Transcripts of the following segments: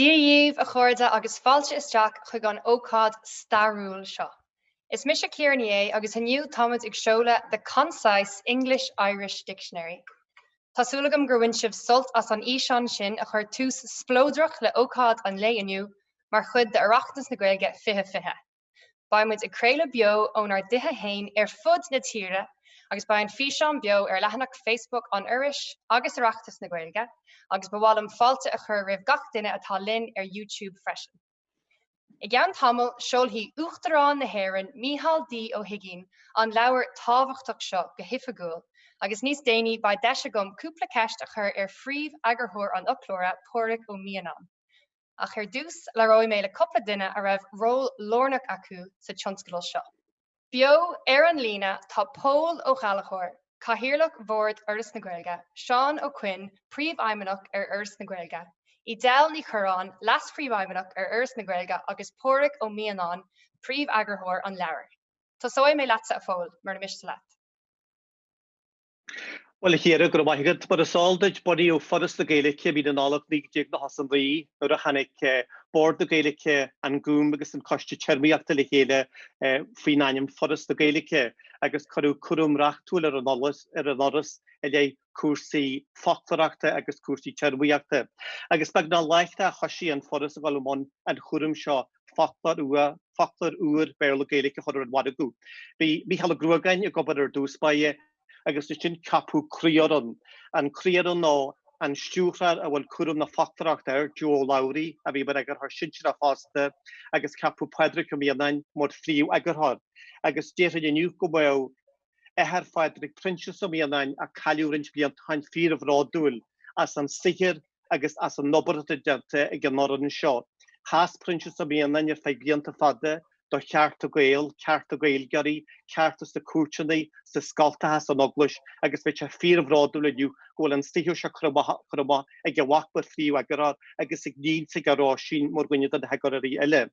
Dia dhíobh, a chairde, agus fáilte isteach chuig an ócáid stairiúil seo. Is mise Ciara Ní É, agus inniu táimid ag seoladh The Concise English-Irish Dictionary. Tá súil agam gur bhain sibh sult as an fhíseán sin a chuir tús spleodrach le ócáid an lae inniu mar chuid d'Oireachtas na Gaeilge 2020. Beidh muid ag craoladh beo ónár dtithe fhéin ar fud na tíre agus beidh an físeán beo ar leathanach Facebook an Fhorais agus Oireachtas na Gaeilge agus ba mhaith liom fáilte a chur roimh gach duine atá linn ar YouTube freisin. I gceann tamaill seolfaidh Uachtarán na hÉireann Micheál D. Ó hUigínn an leabhar tábhachtach seo go hoifigiúil agus níos déanaí beidh deis agam cúpla ceist a chur ar phríomh-eagarthóir an fhoclóra, Pádraig Ó Mianáin. Ach ar dtús labhróidh mé le cúpla duine a raibh ról lárnach acu sa tionscadal seo. Beo ar an líne tá Pól Ó Gallchóir, Cathaoirleach Bhord Fhoras na Gaeilge, Seán Ó Coinn, Príomhfheidhmeannach ar Fhoras na Gaeilge, Edel Ní Chorráin, Leas-Phríomhfheidhmeannach ar Fhoras na Gaeilge agus Pádraig Ó Mianáin, Príomheagarthóir an leabhair. Tosóidh mé leatsa a Phóil, mura miste leat. Bhuel, a Chiara, go raibh maith agat. Mar is eol duit, bunaíodh Foras na Gaeilge i mí na Nollag 1999 nuair a tháinig Bord na Gaeilge, An Gúm agus An Coiste Téarmaíochta le chéile faoin ainm Foras na Gaeilge agus cuireadh cúram reachtúil ar an Fhoras i leith cúrsaí foclóireachta agus cúrsaí téarmaíochta. Agus beagnach láithreach thoisigh an Foras a dhul i mbun an chúraim seo foclóir nua, foclóir úr Béarla-Gaeilge a chur ar an mhargadh. Bhí Mícheál Ó Gruagáin ag obair ar dtús báire agus ansin ceapadh croífhoireann, an croífhoireann nó an stiúrthóir a bhfuil cúram na foclóireachta air, Joe Ó Labhraí a bhí mar eagarthóir sinsearach fosta agus ceapadh Pádraig Ó Mianáin mar phríomh-eagarthóir. Agus déarfainn inniu go mbeadh. athair Phádraig, Proinsias Ó Mianáin, a cailleadh roinnt blianta ó shin, fíorbhródúil as an saothar agus as an obair atá déanta ag an fhoireann seo. Sheas Proinsias Ó Mianáin ar feadh blianta fada do chearta Gael, cearta Gaeilgeoirí, cearta sna cúirteanna, sna scoltacha, san Eaglais agus bheadh sé fíorbhródúil inniu go bhfuil an saothar seo curtha amach ag a mhac mar phríomh-eagarthóir agus ag a níon, ag Róisín, mar dhuine de na heagarthóirí eile.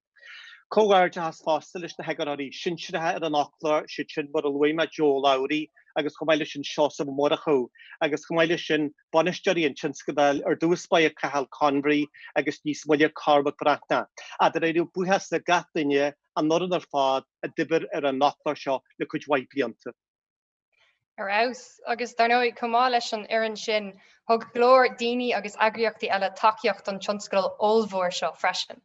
Comhghairdeachas fosta leis na heagarthóirí sinsearacha ar an fhoclóir, is iad sin mar a luaigh mé Joe Ó Labhraí agus chomh maith leis sin Seosamh Ó Murchú agus chomh maith leis sin bainisteoirí an tionscadail ar dtús báire Cathal Convery agus níos moille Cormac Breathnach. Ach dáiríribh buíochas le gach duine an fhoireann ar fad a d'oibir ar an fhoclóir seo le cuid mhaith blianta. Ar fheabhas! Agus dar ndóigh, chomh maith leis an fhoireann sin, thug go leor daoine agus eagraíochtaí eile tacaíocht don tionscadal ollmhór seo freisin.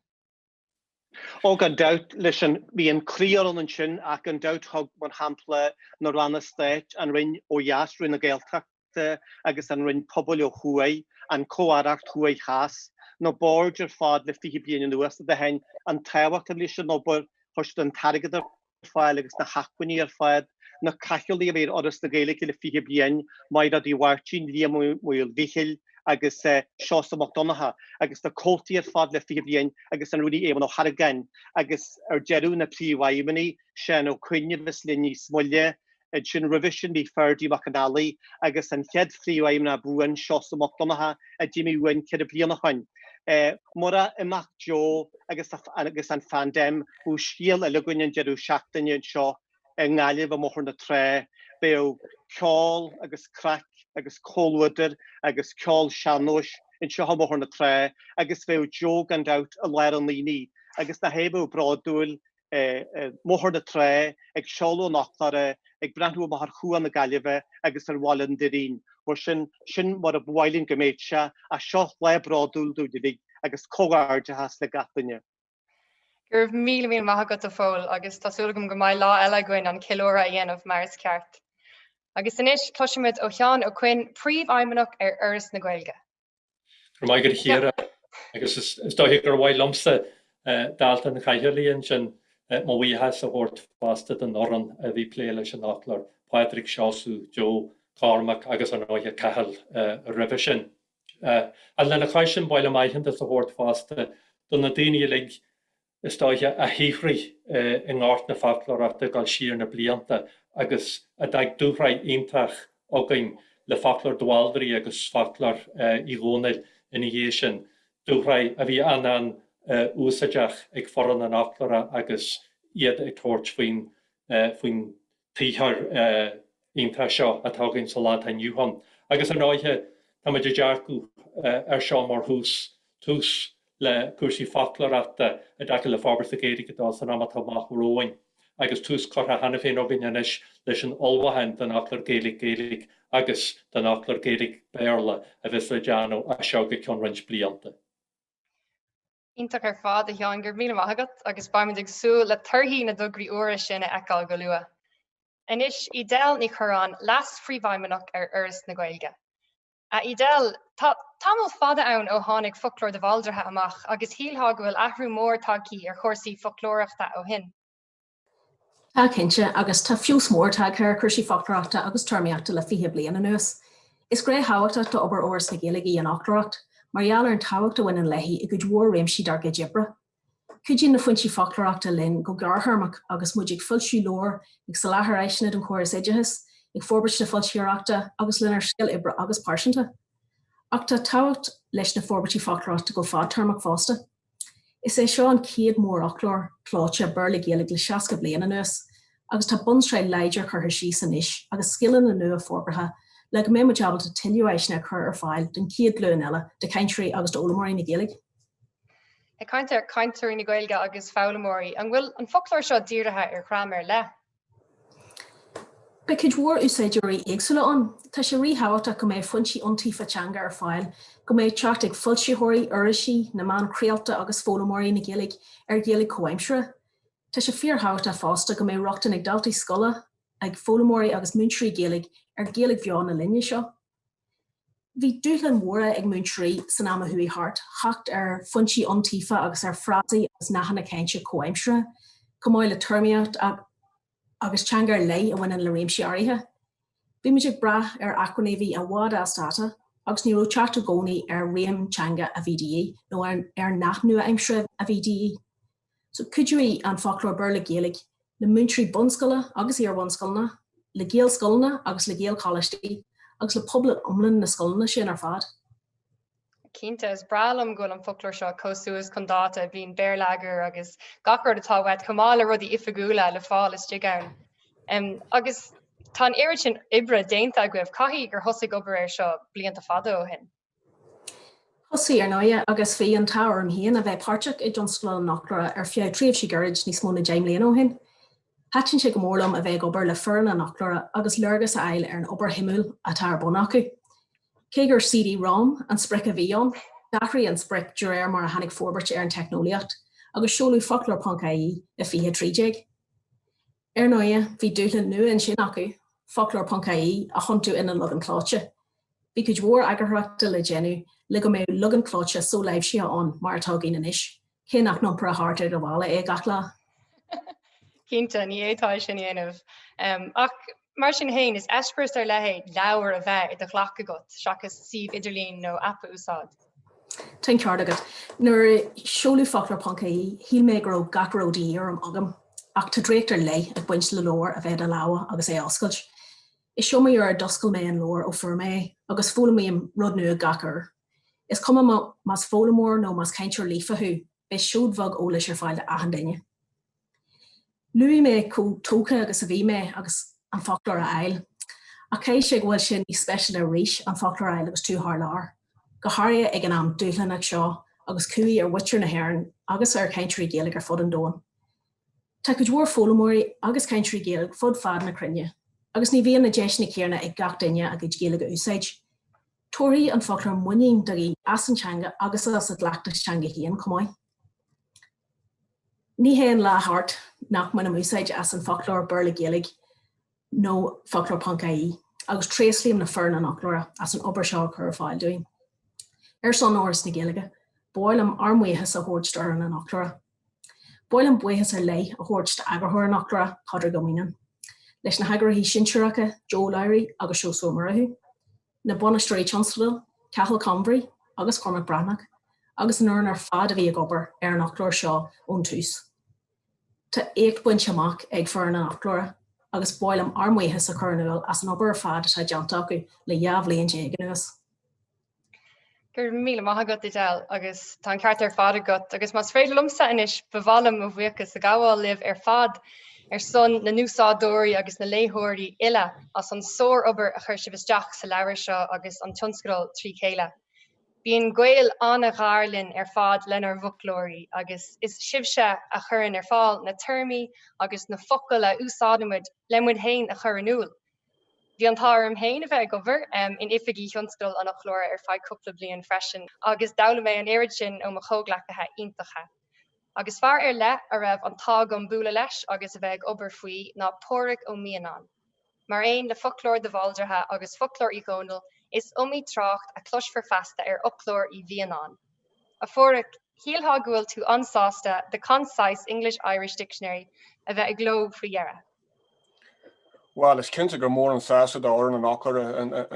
Ó, gan dabht, leis an, bhí an croífhoireann ansin ach gan dabht thug, mar shampla, na Ranna Stáit, an Roinn ó dheas, Roinn na Gaeltachta, agus an Roinn Pobail ó thuaidh, an Chomh-Aireacht Thuaidh Theas, na boird ar fad le fiche bliain anuas a d'aithin an tábhacht a bhí leis an obair, chuir siad an t-airgead ar. fáil agus na hacmhainní ar fad, na cathaoirligh a bhí ar Fhoras na Gaeilge le fiche bliain, Maighréad Uí Mháirtín, Liam Ó Maolmhichíl agus Seosamh Mac Donncha, agus na comhaltaí ar fad le fiche bliain agus an Rúnaí Éamonn Ó hArgáin, agus ar deireadh na príomhfheidhmeannaigh, Seán Ó Coinn a bheas linn níos moille, Ansin roimhe sin bhí Ferdie Mac an Fhailigh agus an chéad phríomhfheidhmeannach buan, Seosamh Mac Donncha, a d'imigh uainn ceithre bliana ó shin. Murach imeacht Joe agus an phaindéim, bheadh scéal eile againn an deireadh seachtaine anseo i nGaillimh i mBóthar na Trá. Bheadh ceol agus craic agus comhluadar agus ceol sean-nóis anseo i mBóthar na Trá agus bheadh Joe, gan dabht, i lár an aonaigh. Agus nach é a bheadh bródúil mBóthar na Trá, ag seoladh an fhoclóra, ag breathnú amach ar Chuan na Gaillimhe agus ar Bhaile an Doirín. Mar sin, sin mar ab áil linn go mbeadh sé, ach seo lá bródúil dúinn uilig, agus comhghairdeachas le gach duine. Go raibh míle míle maith agat, a Phóil, agus tá súil agam go mbeidh lá eile againn an ceiliúradh a dhéanamh mar is ceart. Agus anois, cloisfimid ó Sheán Ó Coinn, Príomhfheidhmeannach ar Fhoras na Gaeilge. Go raibh maith agat a Chiara, agus is, is dóiche gur mhaith liomsa, dalta an chathaoirligh ansin, mo bhuíochas a thabhairt fosta don fhoireann a bhí ag plé leis an fhoclóir, Pádraig, Seosamh, Joe, Cormac agus ar ndóighe Cathal roimhe sin. Lena chois sin, ba mhaith liom aitheantas a thabhairt fosta do na daoine uilig, is dóiche, a shaothraigh i ngort na foclóireachta ag dul siar na blianta agus a d'fhag dúshraith iontach againn le foclóir de Bhaldraithe agus foclóir Uí Dhónaill ina dhiaidh sin, dúshraith a bhí an-an-úsáideach ag foireann an fhoclóra agus iad ag tabhairt faoin tsaothar iontach seo atá againn sa lá atá inniu ann. Agus ar ndóighe, táimid ag dearcadh air seo mar thús, tús le cúrsaí foclóireachta i dtaca le forbairt na Gaeilge dó san am atá amach romhainn, agus tús curtha cheana féin againn anois leis an ullmhúchán don Fhoclóir Gaeilge-Gaeilge agus don Fhoclóir Gaeilge-Béarla a bheas le déanamh as seo go ceann roinnt blianta. Iontach ar fad, a Sheáin, go raibh míle maith agat agus beimid ag súil le torthaí na dtograí úra sin a fheiceáil go luath. Anois, Edel Ní Chorráin, Leas-Phríomhfheidhmeannach ar Fhoras na Gaeilge. A Edel, tá tamall fada ann ó tháinig Foclóir de Bhaldraithe amach agus shílfeá go bhfuil athrú mór tagthaí ar chúrsaí foclóireachta ó shin. Tá cinnte, agus tá feabhas mór tagtha ar chúrsaí foclóireachta agus téarmaíochta le fiche bliain anuas. Is gné thábhachtach d'obair Fhoras na Gaeilge í an fhoclóireacht, mar gheall ar an tábhacht a bhaineann léi i gcuid mhór réimsí dár gcuid oibre. Cuidíonn na foinsí foclóireachta linn go gearrthéarmach agus muid ag foilsiú leabhar, ag soláthar áiseanna don chóras oideachais, ag forbairt na foilsitheoireachta agus lenár saol oibre agus pearsanta. Ach tá tábhacht leis na forbairtí foclóireachta go fadtéarmach fosta. Is é seo an chéad mhórfhoclóir clóite Béarla-Gaeilge le 60 bliain anuas agus tá bunsraith láidir curtha síos anois agus scileanna nua forbartha le go mbeidh muid ábalta tuilleadh áiseanna a chur ar fáil don chéad ghlúin eile de chainteoirí agus d'fhoghlaimeoirí na Gaeilge. Ag caint ar chainteoirí na Gaeilge agus foghlaimeoirí, an bhfuil an foclóir seo dírithe ar dhream ar leith? Beidh cuid mhór úsáideoirí éagsúla ann. Tá sé ríthábhachtach go mbeidh foinsí iontaofa teanga ar fáil, go mbeidh teacht ag foilsitheoirí, irisí, na meáin chraolta agus foghlaimeoirí na Gaeilge ar Ghaeilge chomhaimseartha. Tá sé fíorthábhachtach fosta go mbeidh rochtain ag daltaí scoile, ag foghlaimeoirí agus múinteoirí Gaeilge ar Ghaeilge bheo na linne seo. Bhí dúshláin mhóra ag múinteoirí san am a chuaigh thart, theacht ar fhoinsí iontaofa agus ar fhrásaí agus nathanna cainte comhaimseartha, chomh maith le téarmaíocht agus teanga ar leith a bhaineann le réimsí áirithe. Bhí muid ag brath ar acmhainní a bhí i bhfad as dáta agus ní raibh teacht i gcónaí ar réim teanga a bhí de dhíth nó ar nath nua-aimseartha a bhí de dhíth. So, cuideoidh an Foclóir Béarla-Gaeilge le múinteoirí bunscoile agus iarbhunscoileanna, le Gaelscoileanna agus le Gaelcholáistí, agus le pobal iomlán na scoileanna sin ar fad. Cinnte, is breá liom go bhfuil an foclóir seo chomh suas chun dáta, bíonn béarlagair agus gach rud atá uait, chomh maith le rudaí oifigiúla le fáil istigh ann. Um, agus tá an oiread sin oibre déanta agaibh, caithfidh gur thosaigh obair air seo blianta fada ó shin. Thosaigh, ar ndóigh, agus bhí an t-ádh orm féin a bheith páirteach i dtionscadal an Fhoclóra ar feadh tréimhse ghairid níos mó ná deich mbliana ó shin. Thaitin sé go mór liom a bheith ag obair le foireann an Fhoclóra agus léargas a fháil ar an obair shuimiúil atá ar bun acu. Cé gur CD-Rom an sprioc a bhí ann, d'athraigh an sprioc de réir mar a tháinig forbairt ar an teicneolaíocht, agus seoladh Foclóir.ie i 2013. Ar ndóighe, bhí dúshlán nua ansin acu, foclóir ponc IE a thiontú ina leagan clóite. Bhí cuid mhór eagarthóireachta le déanamh le go mbeadh leagan clóite so-láimhsithe ann mar atá againn anois, cé nach n-iompróinn thart i do mhála é gach lá. Cinnte, ní fhéadfá é sin a dhéanamh. Ach mar sin féin, is eispéireas ar leith é leabhar a bheith i do ghlac agat seachas suíomh idirlín nó aip a úsáid. Tá an ceart agat. Nuair a seoladh Foclóir Ponc IE, shíl mé go raibh gach a raibh de dhíth orm agam. Ach tá draíocht ar leith ag baint le leabhar a bheith i do lámha agus é a oscailt. Is iomaí uair a d'oscail mé an leabhar ó fuair mé é, agus foghlaimím rud nua gach uair. Is cuma más foghlaimeoir nó más cainteoir líofa thú, beidh seoid bheag eolais ar fáil d'achan duine. Luaigh mé chomh tógtha agus a bhí mé agus an foclóir a fháil. Ach caithfidh sé go bhfuil sé níos speisialta arís an foclóir a fháil agus tú thar lear, go háirithe ag an am dúshlánach seo agus cumhaidh ar mhuintir na hÉireann agus ar chainteoirí Gaeilge ar fud an domhain. Tá cuid mhór foghlaimeoirí agus cainteoirí Gaeilge fud fad na cruinne agus ní bhíonn na deiseanna céanna ag gach duine a gcuid Gaeilge a úsáid. Tabharfaidh an foclóir muinín do dhaoine as an teanga agus as a gcleachtas teanga féin chomh maith. Ní théann lá thart nach mbainim úsáid as an foclóir Béarla-Gaeilge nó foclóir ponc ie, agus tréaslaím le foireann an fhoclóra as an obair seo a chur ar fáil dúinn. Ar son Fhoras na Gaeilge, ba mhaith liom ár mbuíochas a thabhairt d'fhoireann an fhoclóra. Ba mhaith liom buíochas ar leith a thabhairt d'eagarthóir an fhoclóra, Pádraig Ó Mianáin, leis na heagarthóirí sinsearacha, Joe Ó Labhraí agus Seosamh Ó Murchú, na bainisteoirí tionscadail, Cathal Convery agus Cormac Breathnach, agus an fhoireann ar fad a bhí ag obair ar an fhoclóir seo ón tús. Tá éacht bainte amach ag foireann an fhoclóra agus ba mhaith liom ár mbuíochas a chur in iúl as an obair ar fad atá déanta acu le dhá bhliain déag anuas. Go raibh míle maith agat Edel agus tá an ceart ar fad agat agus más féidir liomsa anois ba mhaith liom mo bhuíochas a ghabháil libh ar fad ar son na n-úsáideoirí agus na léitheoirí uile as an sár-obair a chuir sibh isteach sa leabhar seo agus an tionscadal trí chéile. Bíonn gaol an-ghar linn ar fad lenár bhfoclóirí agus is sibhse a chuireann ar fáil na téarmaí agus na focail a úsáidimid le muid féin a chur in iúl Bhí an t-ádh orm féin a bheith ag obair in oifigí thionscadal an fhoclóra ar feadh cúpla bliain freisin agus d'fhoghlaim mé an oiread sin ó mo chomhghleacaithe iontacha. Agus fear ar leith a raibh an t-ádh agam bualadh leis agus a bheith ag obair faoi ná Pádraig Ó Mianáin. Mar aon le Foclóir de Bhaldraithe agus Foclóir Uí Dhónaill, is iomaí trácht a chloisfear feasta ar fhoclóir Uí Mhianáin. A Phádraig, shílfeá go bhfuil tú an-sásta The Concise English-Irish Dictionary a bheith i gcló faoi dheireadh. Bhuel, is cinnte gur mór an sásamh do fhoireann an fhoclóra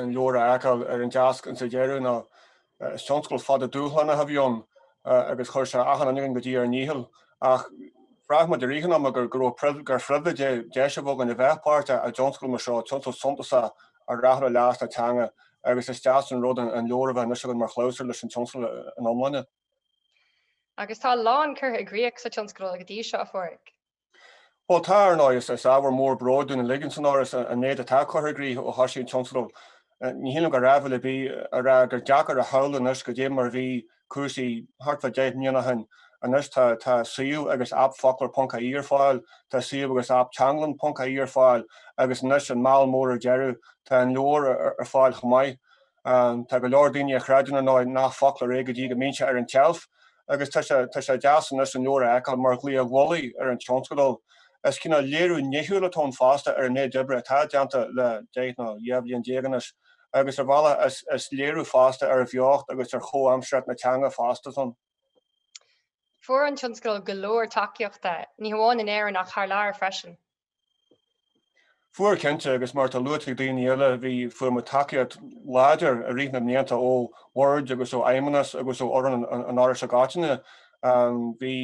an leabhar a fheiceáil ar an deasc insa deireadh, nó is tionscadal fada dúshlánach a bhí ann, agus chuir sé achan duine againn go dtí ár ndícheall. Ach bhraith muid i rith an ama go raibh, gur phribhléid é deis a bheith againn a bheith páirteach i dtionscadal mar seo, tionscadal suntasach a rachadh le leas na teanga, agus is deas an rud an leabhar a bheith anois againn mar chlabhsúr leis an tionscadal ina iomláine. Agus tá a lán curtha i gcrích sa tionscadal go dtí seo, a Phádraig. Bhuel, tá, ar ndóigh. Is ábhar mór bróid dúinn uilig insan Fhoras an méid atá curtha i gcrích ó thosaigh an tionscadal. Ní shílim gur áibhéil ar bith é a rá gur deacair a shamhlú anois cad é mar a bhí cúrsaí thart fá deich mbliana ó shin. Anois tá suíomh agus aip Foclóir Ponc ie ar fáil, tá suíomh agus aip Teanglann Ponc ie ar fáil agus anois, an meall mór ar deireadh, tá an leabhar ar fáil chomh maith. Tá go leor daoine a chreideann, ar ndóigh, nach foclóir é go dtí go mbíonn sé ar an tseilf, agus tá sé deas anois an leabhar a fheiceáil mar dhlaoi mhullaigh ar an tionscadal. Is cineál léiriú nithiúil atá ann fosta ar an méid oibre atá déanta le deich nó dhá bhliain déag anois, agus ar bhealach is léiriú fosta ar bheocht agus ar chomhaimsearthacht na teanga fosta san. Fuair an tionscadal go leor tacaíochta, ní hamháin in Éirinn ach thar lear freisin. Fuair, cinnte, agus mar atá luaite ag daoine eile, bhí, fuair muid tacaíocht láidir i rith na mblianta ó bhord agus ó fheidhmeannas agus ó fhoireann an Fhorais i gcoitinne. Bhí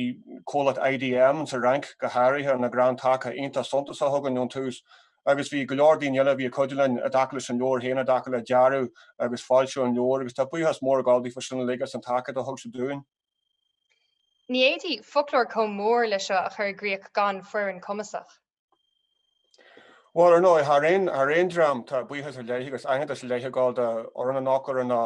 comhlacht IDM sa Fhrainc, go háirithe, ina gcrann taca iontach suntasach againn ón tús agus bhí go leor daoine eile a bhí ag cuidiú linn i dtaca leis an leabhar féin, i dtaca le dearadh agus foilsiú an leabhair agus tá buíochas mór ag dul daofa sin uilig as an tacaíocht a thug siad dúinn. Ní fhéadfaí foclóir chomh mór leis seo a chur i gcríoch gan foireann cumasach. Bhuel, ar ndóigh, thar aon dream, tá buíochas ar leith agus aitheantas ar leith ag dul do fhoireann an fhoclóra nó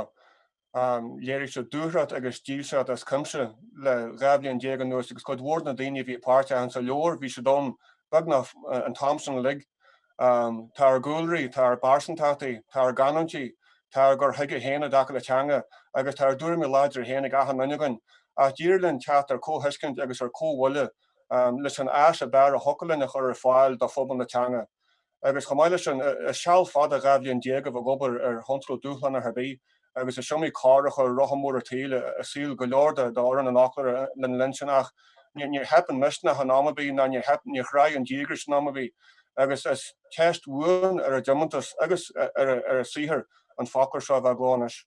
léirigh siad dúthracht agus dílseacht as cuimse le dhá bhliain déag anuas agus cuid mhór de na daoine a bhí páirteach insa leabhar, bhí siad ann beagnach an t-am san uilig. Tá ár gcúlraí, tá ár bpearsantachtaí, tá ár gcanúintí, tá ár gcur chuige féin i dtaca le teanga agus tá ár dtuairimí láidre féin ag achan duine againn, ach d'éirigh linn teacht ar chomhthuiscint agus ar chomhbhuille leis an áis ab fhearr a thiocfadh linn a chur ar fáil do phobal na teanga. Agus chomh maith leis sin, is seal fada dhá bhliain déag a bheith ag obair ar thionscadal dúshlánach ar bith, agus is iomaí cor a chuir rotha mór an tsaoil i saol go leor de fhoireann an fhoclóra lena linn sin. Ach níor theip an misneach in am ar bith, ná níor theip, níor thráigh an díograis in am ar bith, agus is teist bhuan ar a dtiomantas agus ar a saothar an foclóir seo a bheith i gcló anois.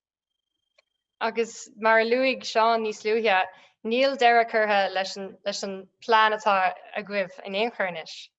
Agus mar a luaigh Seán níos luaithe, níl deireadh curtha leis an bplean atá agaibh in aon chor anois.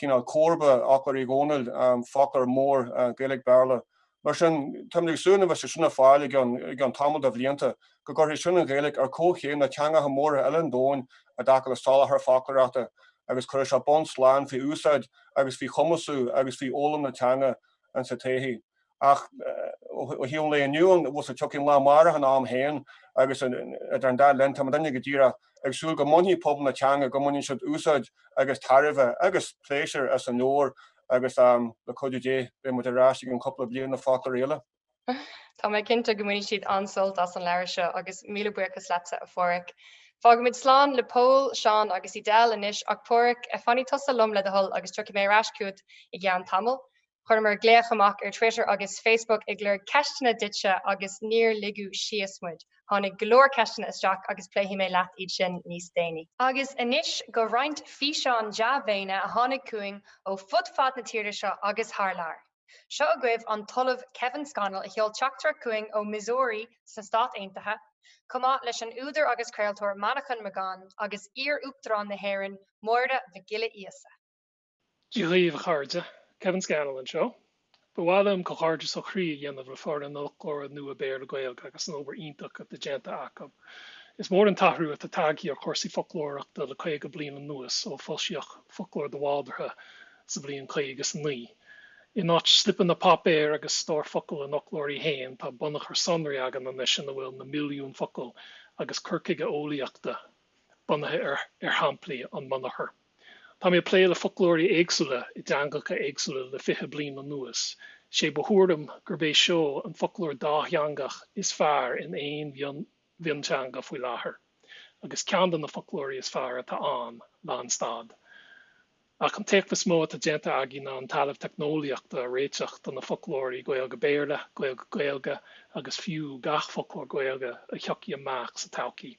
cineál comharba ar fhoclóir Uí Dhónaill, foclóir mór Gaeilge-Béarla. Mar sin, táimid ag súil, nuair a bheidh sé sin ar fáil i gceann tamall de bhlianta, go gcuirfidh sin an Ghaeilge ar comhchéim na teangacha móra eile an domhain i dtaca le soláthar foclóireachta agus cuirfidh sé bonn slán faoi úsáid agus faoi chumasú agus faoi fhoghlaim na teanga insa todhchaí. ach ó thaobh an lae inniu an bhfuil a fhios agat tiocfaidh an lá amárach ina am féin agus idir an dá linn tá muidinne go díreach ag súil go mbainfidh pobal na teanga go mbaineann siad úsáid agus tairbhe agus pléisiúr as an leabhar agus le cuidiú Dé beidh muid ar ais i gceann cúpla bliain le foclóir eile. Tá mé cinnte go mbainfidh siad an-sult as an leabhar seo agus míle buíochas leatsa a Pháraic. Fágaimid slán le Pól, Seán agus Edel anois ach Páraic, fanfaidh tusa liom le do thoil agus tiocfaidh mé ar ais chugat i gceann tamaill. Chuireamar glaoch amach ar Twitter agus Facebook ag lorg ceisteanna duitse agus níor ligeadh síos muid. Tháinig go leor ceisteanna isteach agus pléifidh mé leat iad sin níos déanaí. Agus anois go roinnt físeán dea-mhéine a tháinig chugainn ó fud fad na tíre seo agus thar lear. Seo agaibh an tOllamh Kevin Scannell a sheol teachtaireacht chugainn ó Missouri sna Stáit Aontaithe, chomh maith leis an údar agus craoltóir Manchán Magan agus iar-Uachtarán na hÉireann Máire Mhic Giolla Íosa. Dia dhaoibh a chairde, Kevin Scannell anseo. Ba mhaith liom comhghairdeas ó chroí a dhéanamh le foireann an fhoclóra nua Béarla-Gaeilge agus an obair iontach atá déanta acu. Is mór an t-athrú atá tagtha ar chúrsaí foclóireachta le caoga bliain anuas ó foilsíodh Foclóir de Bhaldraithe sa bhliain caoga is a naoi. In áit slipeanna páipéir agus stór focal an fhoclóirí féin tá bunachar sonraí againn anois ina bhfuil na milliúin focal agus cur chuige eolaíochta bunaithe ar shamplaí ón mbunachar. Tá mé ag plé le foclóirí éagsúla i dteangacha éagsúla le fiche bliain anuas. Is é mo thuairim gurb é seo an foclóir dátheangach is fearr in aon mhionteanga faoi láthair, agus ceann de na foclóirí is fearr atá ann, lánstad. Ach an t-éacht is mó atá déanta againn ná an talamh teicneolaíochta a réiteach do na foclóirí Gaeilge-Béarla, Gaeilge-Gaeilge, agus fiú gach foclóir Gaeilge a thiocfaidh amach sa todhchaí.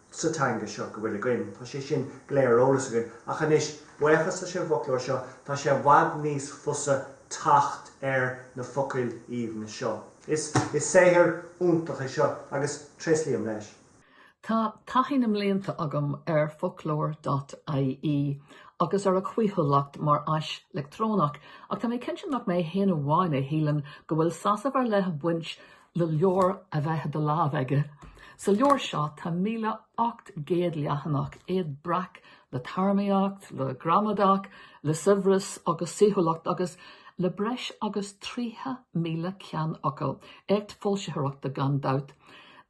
sa teanga seo go bhfuil i Dinneen. Tá sé sin go léir ar eolas againn, ach anois, buíochas leis an bhfoclóir seo, tá sé i bhfad níos fusa teacht ar na focail aoibhne seo. Is saothar iontach é seo, agus tréaslaím leis. Tá taithí na mblianta agam ar Foclóir.ie agus ar a chaoithiúlacht mar áis leictreonach, ach tá mé cinnte nach mé féin amháin a shíleann go bhfuil sásamh ar leith ag baint le leabhar a bheith i do lámh agat. Sa leabhar seo tá míle ocht gcéad leathanach, iad breac le téarmaíocht, le gramadach, le saibhreas agus saoithiúlacht agus le breis agus tríocha míle ceannfhocal. Éacht foilsitheoireachta gan dabht.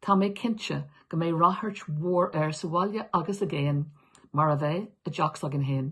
Tá mé cinnte go mbeidh ráchairt mhór air sa bhaile agus i gcéin, mar a bheas i dteach s'againn féin.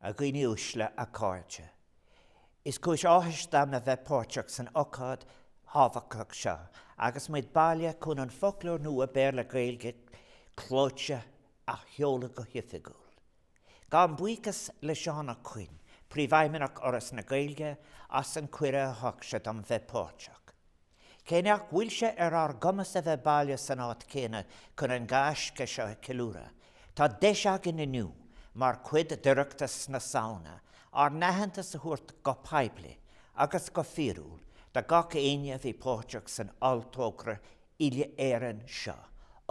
A dhaoine uaisle, a chairde. Is cúis áthais dom a bheith páirteach san ócáid thábhachtach seo agus muid bailithe chun an foclóir nua Béarla-Gaeilge clóite a sheoladh go hoifigiúil. Gabhaim buíochas le Seán Ó Coinn, Príomhfheidhmeannach Fhoras na Gaeilge, as an cuireadh a thug sé dom bheith páirteach. Cé nach bhfuil sé ar ár gcumas a bheith bailithe san áit chéanna chun an gaisce seo a cheiliúradh, tá deis againn inniu, mar chuid d'Oireachtas na Samhna, ár n-aitheantas a thabhairt go poiblí agus go fíorúil do gach éinne a bhí páirteach san olltogra uile-Éireann seo,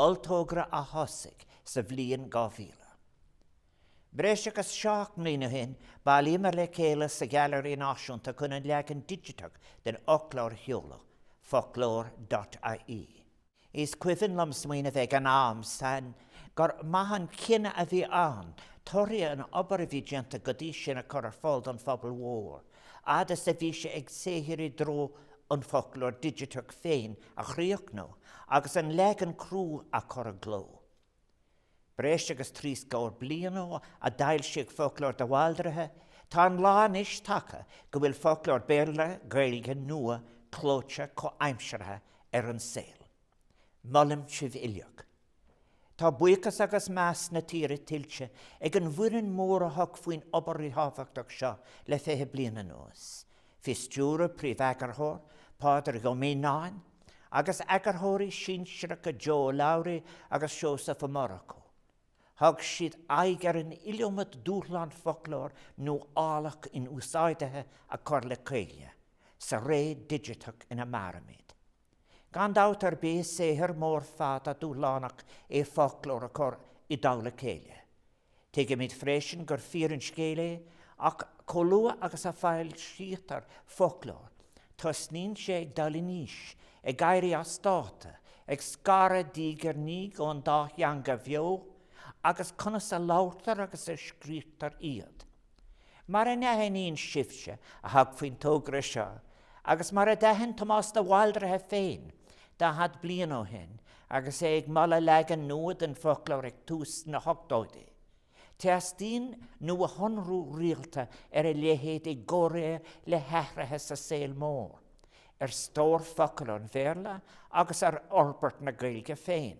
olltogra a thosaigh sa bhliain 2000. Breis agus seacht mbliain ó shin, bhailíomar le chéile sa Ghailearaí Náisiúnta chun an leagan digiteach den fhoclóir a sheoladh, Foclóir.ie. Is cuimhin liom smaoineamh ag an am san gur maith an cinneadh a bhí ann torthaí na hoibre a bhí déanta go dtí sin a chur ar fáil don phobal mhór, fhad is a bhí sé ag saothrú i dtreo an foclóir digiteach féin a chríochnú agus an leagan crua a chur i gcló. Breis agus trí scór bliain ó a d'foilsíodh Foclóir de Bhaldraithe, tá an lá anois tagtha go bhfuil foclóir Béarla-Gaeilge nua clóite comhaimseartha ar an saol. Molaim sibh uilig. Tá buíochas agus meas na tíre tuillte ag an bhfoireann mhór a thug faoin obair ríthábhachtach seo le fiche bliain anuas. Faoi stiúradh Príomheagarthóir Pádraig Ó Mianáin agus eagarthóirí sinsearacha Jo O'Donoghue agus Seosamh Ó Murchú. Thug siad aghaidh ar an iliomad dúshlán foclóir nuálach inúsáidithe a chur le chéile sa ré digiteach ina mairimid. Gan dabht ar bith is saothar mór fada dúshlánach é foclóir a chur i dtoll a chéile. Tuigimid freisin gur fíor an scéal é, chomh luath agus a fhoilsítear foclóir tosnaíonn sé ag dul in aois, ag éirí as dáta, ag scaradh diaidh ar ndiaidh ón dá theanga bheo agus conas a labhraítear agus a scríobhtar iad. Mar a aithníonn sibhse a thug faoin togra seo, agus mar a d'aithin Tomás de Bhaldraithe féin daichead bliain ó shin agus é ag moladh leagan nua den fhoclóir ag tús na hochtóidí, teastaíonn nuashonrú rialta ar a leithéid i gcomhréir le hathruithe sa saol mór, ar stór focal ón Bhéarla agus ar fhorbairt na Gaeilge féin.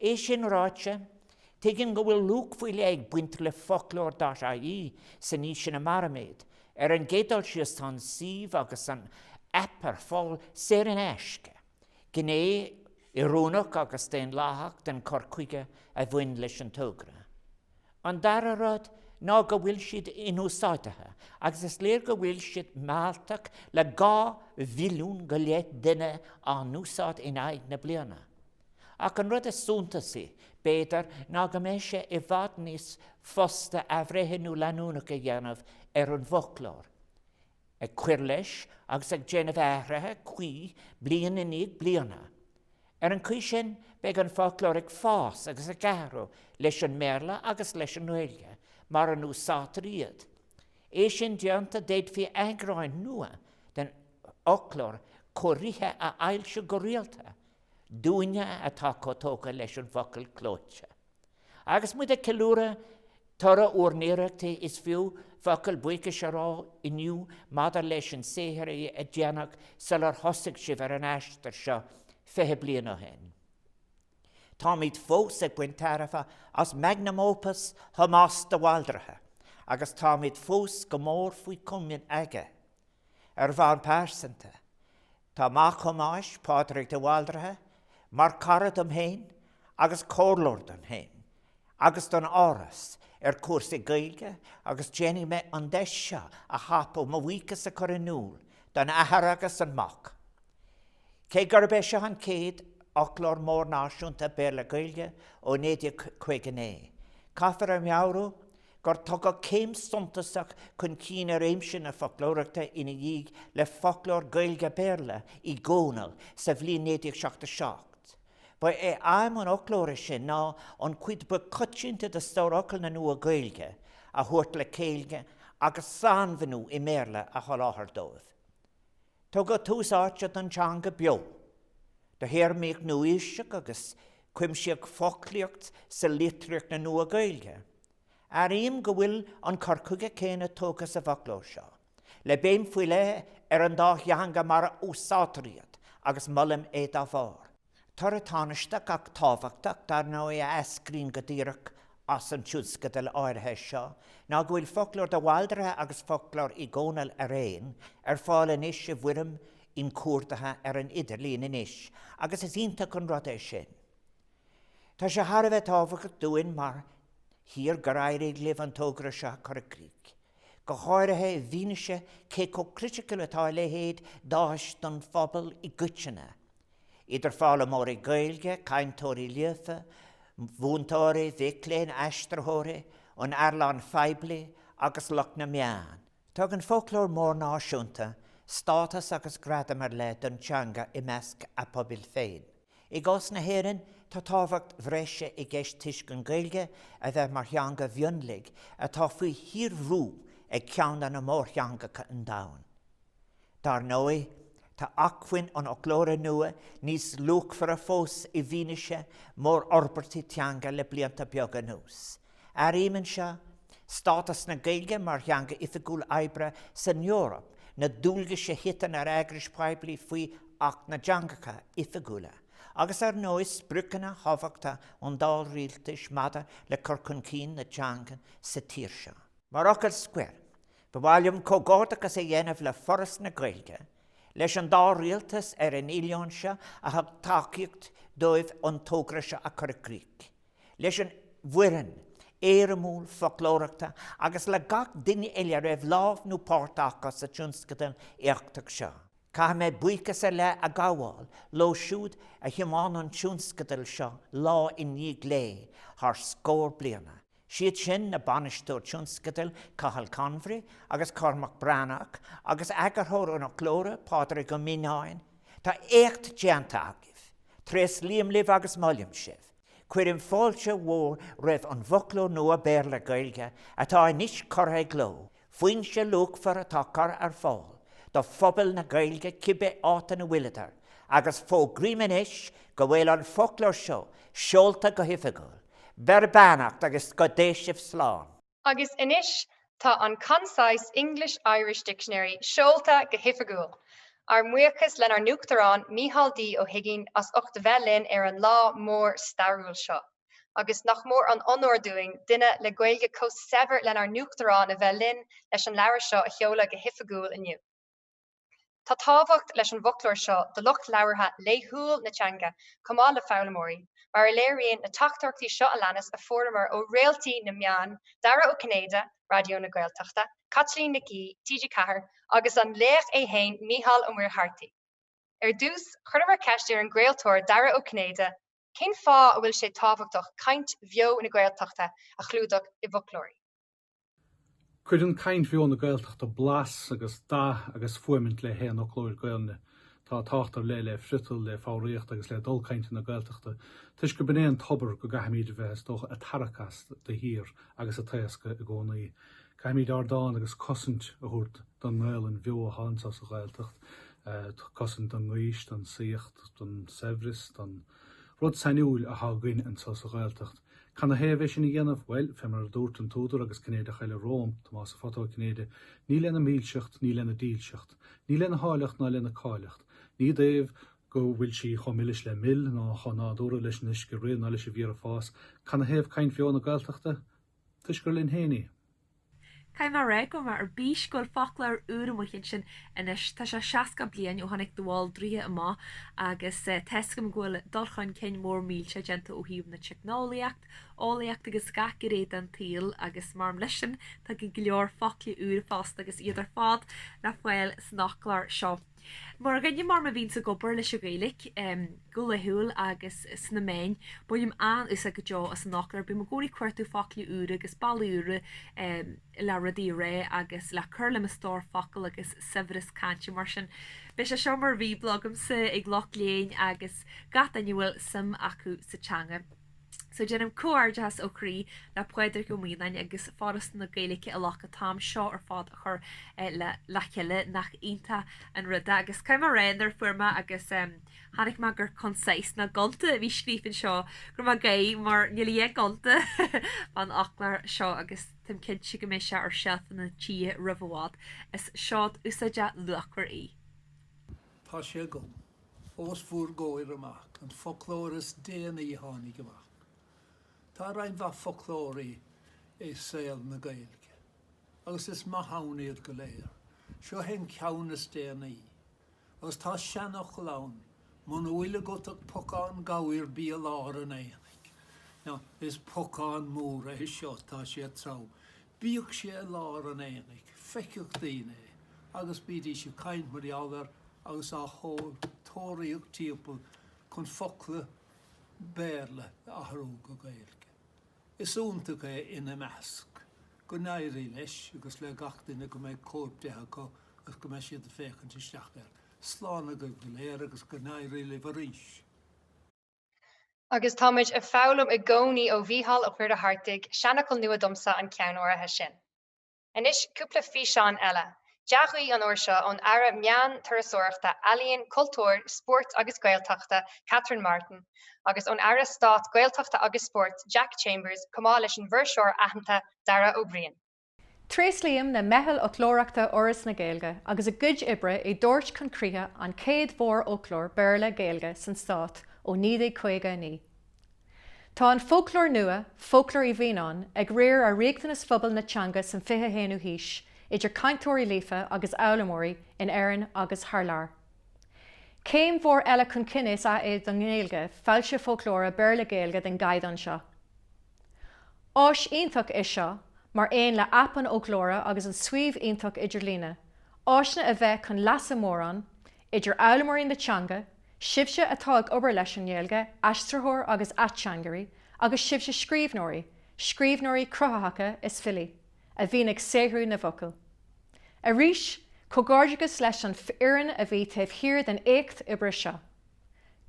É sin ráite, tuigim go bhfuil luach faoi leith ag baint le Foclóir.ie san aois ina mairimid. Ar an gcéad dul síos, tá an suíomh agus an aip ar fáil saor in aisce, gné oiriúnach agus daonlathach den chur chuige a bhain leis an togra. An dara rud ná go bhfuil siad inúsáidithe, agus is léir go bhfuil siad mealltach le dhá mhilliún go leith duine á n-úsáid in aghaidh na bliana. Ach an rud is suntasaí, b'fhéidir, ná go mbeidh sé i bhfad níos fusa athbhreithniú leanúnach a dhéanamh ar an bhfoclóir, ag cur leis agus ag déanamh athraithe cuí bliain i ndiaidh bliana. Ar an gcaoi sin, beidh an foclóir ag fás agus ag athrú leis an mBéarla agus leis an nGaeilge, mar a úsáidtear iad. É sin déanta, d'fhéadfaí eagráin nua den fhoclóir cóirithe a fhoilsiú go rialta Dúinne atá chomh tógtha leis an bhfocal clóite, agus muid ag ceiliúradh toradh bhur n-iarrachtaí, is fiú focal buíochais a rá inniu maidir leis an saothar a déanadh sular thosaigh sibh ar an aistear seo fiche bliain ó shin. Táimid fós ag baint tairbhe as magnum opus Thomáis de Bhaldraithe, agus táimid fós go mór faoi chomaoin aige, ar bhonn pearsanta, Tá mac Thomáis, Pádraig de Bhaldraithe, mar chara dom féin agus comhairleoir dom féin agus don Áras ar chúrsaí Gaeilge agus déanfaidh mé an deis seo a thapú mo bhuíochas a chur in iúl don athair agus don mhac. Cé gurb é seo an chéad Fhoclóir Mór Náisiúnta Béarla-Gaeilge ó 1959, caithfear a mheabhrú go gur tugadh céim suntasach chun cinn i réimse na foclóireachta ina dhiaidh le Foclóir Gaeilge-Béarla Uí Dhónaill sa bhliain 1977. Ba é aidhm an fhoclóra sin ná an chuid ba choitianta de stórfhocail na Nua-Ghaeilge a thabhairt le chéile agus sainmhiniú i mBéarla a sholáthar dóibh. Tugadh tús áite don teanga bheo, do théarmaíocht nua-aoiseach agus cuimsíodh foclaíocht sa litríocht na Nua-Ghaeilge. Airím go bhfuil an cur chuige céanna tógtha sa bhfoclóir seo, le béim faoi leith ar an dá theanga mar a úsáidtear iad, agus molaim é dá bharr. Toradh tánaisteach ach tábhachtach, dar ndóigh, a eascraíonn go díreach as an tionscadal áirithe seo ná go bhfuil Foclóir de Bhaldraithe agus Foclóir Uí Dhónaill araon ar fáil anois i bhfoirm inchuardaithe ar an idirlíon anois, agus is iontach an rud é sin. Tá sé thar a bheith tábhachtach dúinn mar thír gur éirigh libh an togra seo a chur i gcrích, go háirithe i bhfianaise cé chomh criticiúil is atá a leithéid d'áis don phobal i gcoitinne, idir foghlaimeoirí Gaeilge, cainteoirí líofa, mhúinteoirí, mhic léinn, aistritheoirí, an earnáil phoiblí agus lucht na meán. Tugann foclóir mór náisiúnta stádas agus gradam ar leith don teanga i measc a pobail féin. I gcás na hÉireann, tá tábhacht bhreise i gceist toisc an Ghaeilge a bheith mar theanga mhionlaigh atá faoi shíorbhrú ag ceann de mhórtheangacha an domhain. Dar ndóigh, tá acmhainn an fhoclóra nua níos luachmhaire fós i bhfianaise mórfhorbairtí teanga le blianta beaga anuas. Áirím anseo stádas na Gaeilge mar theanga oifigiúil oibre san Eoraip, na dualgais a thiteann ar eagrais phoiblí faoi Acht na dTeangacha Oifigiúla, agus ar ndóigh spriocanna tábhachtacha an dá rialtas maidir le cur chun cinn na teanga sa tír seo. Mar fhocal scoir, ba mhaith liom comhghairdeachas a dhéanamh le Foras na Gaeilge, leis an dá rialtas ar an oileán seo a thug tacaíocht dóibh an togra seo a chur i gcrích, leis an bhfoireann éirimiúil foclóireachta agus le gach duine eile a raibh lámh nó páirt acu sa tionscadal éachtach seo. Caithfidh mé buíochas ar leith a ghabháil leo siúd a thiomáin an tionscadal seo lá i ndiaidh lae thar scór bliana, siad sin na Bainisteoirí Tionscadail Cathal Convery agus Cormac Breathnach agus Eagarthóir an Fhoclóra, Pádraig Ó Mianáin. Tá éacht déanta agaibh. Tréaslaím libh agus molaim sibh. Cuirim fáilte mhór roimh an bhFoclóir Nua Béarla-Gaeilge atá anois curtha i gcló, foinse luachmhar atá curtha ar fáil do phobal na Gaeilge cibé áit ina bhfuileadar, agus fógraím anois go bhfuil an foclóir seo seolta go hoifigiúil. Beir beannacht agus go dté sibh slán. Agus anois tá an Concise English-Irish Dictionary seolta go hoifigiúil! Ár mbuíochas lenár nUachtarán, Micheál D. Ó hUiginn, as ucht a bheith linn ar an lá mór stairiúil seo. Agus nach mór an onóir dúinn, duine le Gaeilge chomh saibhir lenár nUachtarán a bheith linn leis an leabhar seo a sheoladh go hoifigiúil inniu. Tá tábhacht leis an bhfoclóir seo do lucht labhartha laethúil na teanga chomh maith le foghlaimeoirí, mar a léiríonn na teachtaireachtaí seo a leanas a fuaireamar ó réaltaí na meán, Dara Ó Cinnéide, Raidió na Gaeltachta, Caitlín Nic Aoidh, TG4, agus an laoch é fhéin, Mícheál Ó Muircheartaigh. Ar dtús, chuireamar ceist ar an gcraoltóir Dara Ó Cinnéide cén fáth a bhfuil sé tábhachtach caint bheo na Gaeltachta a chlúdach i bhfoclóirí. Cuireann caint bheo na Gaeltachta blas agus dath agus fuaimint le haon fhoclóir Gaolainne. Tá tábhacht ar leith le friotal, le foghraíocht agus le dul cainte na Gaeltachta, toisc gurb in é an tobar go gcaithfimid a bheith, is dócha, ag tarrac as de shíor agus ag taoscadh i gcónaí. Caithfimid ardán agus cosaint a thabhairt don nGaolainn bheo atá anseo sa Ghaeltacht, cosaint don ngaois, don saíocht, don saibhreas, don rud sainiúil atá againn anseo sa Ghaeltacht. Cad na thaobh é sin a dhéanamh? Bhuel, fé mar a dúirt an t-údar agus Cinnéideach eile romham, Tomás a Photo Ó Cinnéide, ní lena milseacht, ní lena dílseacht, ní lena háilleacht ná lena cáilleacht, ní dtaobh go bhfuil sí chomh milis le mil ná chomh nádúrtha leis an uisce ag rith ná leis an bhféar ag fás, cad na thaobh caint bheo na Gaeltachta? Toisc gur linn féin í. Caithfidh mé a rá go raibh mé ar bís go bhfuil foclóir úr amuigh ansin anois. Tá sé 60 bliain ó tháinig de Bhaldraithe amach agus tá fhios agam go bhfuil dul chun cinn mór millteach déanta ó thaobh na teicneolaíocht, eolaíocht agus gach gné den tsaol agus mar aon leis sin tá go leor focla úra fosta agus iad ar fad le fáil san fhoclóir seo. Mar dhuine mar mé a bhíonns ag obair leis an Ghaeilic go laethúil agus sna meáin, bainim an-úsáid go deo as an fhoclóir. Bím i gcónaí ag cuartú foclaí úra agus bealaí úra le rudaí a rá agus le cur le mo stór focal agus saibhreas cainte mar sin. Beidh sé seo mar bhíobla agamsa ag lucht léinn agus gach duine a bhfuil suim acu sa teanga. So déanaim comhghairdeachas ó chroí le Pádraig Ó Mianáin agus Foras na Gaeilge a ghlac an t-am seo ar fad a chur le chéile, nach iontach an rud é. Agus caithfidh mé a rá, nuair a fuair mé, agus chonaic mé gur concise, ná gonta a bhí scríofa anseo, go raibh mé ag gáirí, mar níl a dhath gonta fán fhoclóir seo agus táim cinnte go mbeidh sé ar seilfeanna na tíre roimh i bhfad. Is seod úsáideach luachmhar í. Tá sé agam. Os bhur gcomhair amach an foclóir is déanaí a tháinig amach, tá roinnt mhaith foclóirí i saol na Gaeilge, agus is maith ann iad go léir. Seo é an ceann is déanaí, agus tá seanfhocal ann, 'Muna bhfuil agat ach pocán gabhair bí i lár an aonaigh'. Now, is pocán mór é seo, tá sé trom Bíodh sé i lár an aonaigh, feiceadh daoine é agus bídís ag caint mar gheall air agus ag tóraíocht timpeall chun focla Béarla a athrú go Gaeilge. Is iontach é ina measc. Go n-éirí leis agus le gach duine go mbeidh cóip de acu agus go mbeidh siad ag féachaint isteach air. Slán agaibh go léir agus go n-éirí libh arís. Agus táimid ag foghlaim i gcónaí ó Mhícheál Ó Muircheartaigh, seanfhocal nua domsa an ceann áirithe sin. Anois cúpla físeán eile, dea-ghuí an uair seo ón Aire Meán, Turasóireachta, Ealaíon, Cultúir, Spóirt agus Gaeltachta, Catherine Martin, agus ón Aire Stáit Gaeltachta agus Spóirt, Jack Chambers, chomh maith leis an bhfuirseoir aitheanta Dara Ó Briain. Tréaslaím le meitheal foclóireachta Fhoras na Gaeilge agus a gcuid oibre i dtabhairt chun críche an chéad mhórfhoclóir Béarla-Gaeilge san Stát ó 1959. Tá an foclóir nua, Foclóir Uí Mhianáin, ag riar ar riachtanais phobal na teanga san 21ú haois, idir chainteoirí líofa agus fhoghlaimeoirí, in Éirinn agus thar lear. Céim mhór eile chun cinn is ea é don nGaeilge, foilsiú foclóra Béarla-Gaeilge den gcaighdeán seo. Áis iontach é seo, mar aon le aip an fhoclóra agus an suíomh iontach idirlíne, áiseanna a bheidh chun leasa mórán, idir fhoghlaimeoirí na teanga, sibhse atá ag obair leis an nGaeilge, aistritheoirí agus ateangairí, agus sibhse scríbhneoirí, scríbhneoirí cruthaitheacha is filí, a bhíonn ag saothrú na bhfocal. Arís, comhghairdeachas leis an fhoireann a bhí taobh thiar den éacht oibre seo.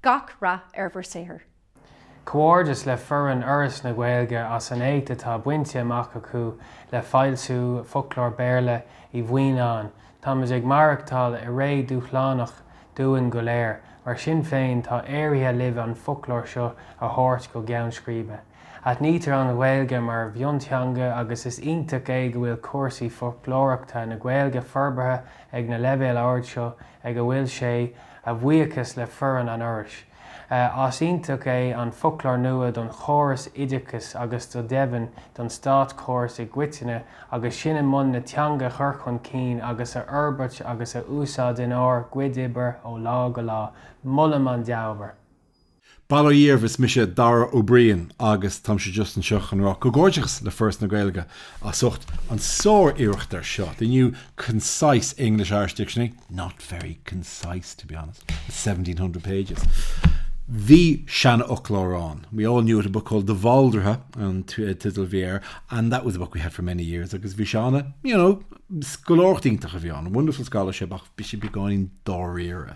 Gach rath ar bhur saothar. Comhghairdeas le foireann Fhoras na Gaeilge as an éacht atá bainte amach acu le foilsiú Fhoclóir Béarla Uí Mhianáin. Táimid ag maireachtáil i ré dúshlánach dúinn go léir, mar sin féin tá éirithe libh an foclóir seo a thabhairt go ceann scríbe. Aithnítear an Ghaeilge mar mhionteanga agus is iontach é go bhfuil cúrsaí foclóireachta na Gaeilge forbartha ag an leibhéal ard seo ag a bhfuil sé, a bhuíochas le foireann an Fhorais. Is iontach é an foclóir nua don chóras oideachais agus go deimhin don státchóras i gcoitinne agus sinn i mbun na teanga a chur chun cinn agus a fhorbairt agus a úsáid inár gcuid oibre ó lá go lá. Molaim an dea-obair. Bail ó Dhia oraibh, is mise Dara Ó Briain agus táimse just anseo chun a rá comhghairdeachas le Foras na Gaeilge as ucht an sár-iarracht ar seo, the new concise English-Irish dictionary, not very concise to be honest, it's seventeen hundred pages. Bhí seanfhoclóir ann, we all knew it, a book called De Bhaldraithe an title a bhí air and that was a book we had for many years agus bhí sé an-, you know, scoláireacht iontach a bhí ann, wonderful scholarship ach bhí sé beagáinín dáiríre.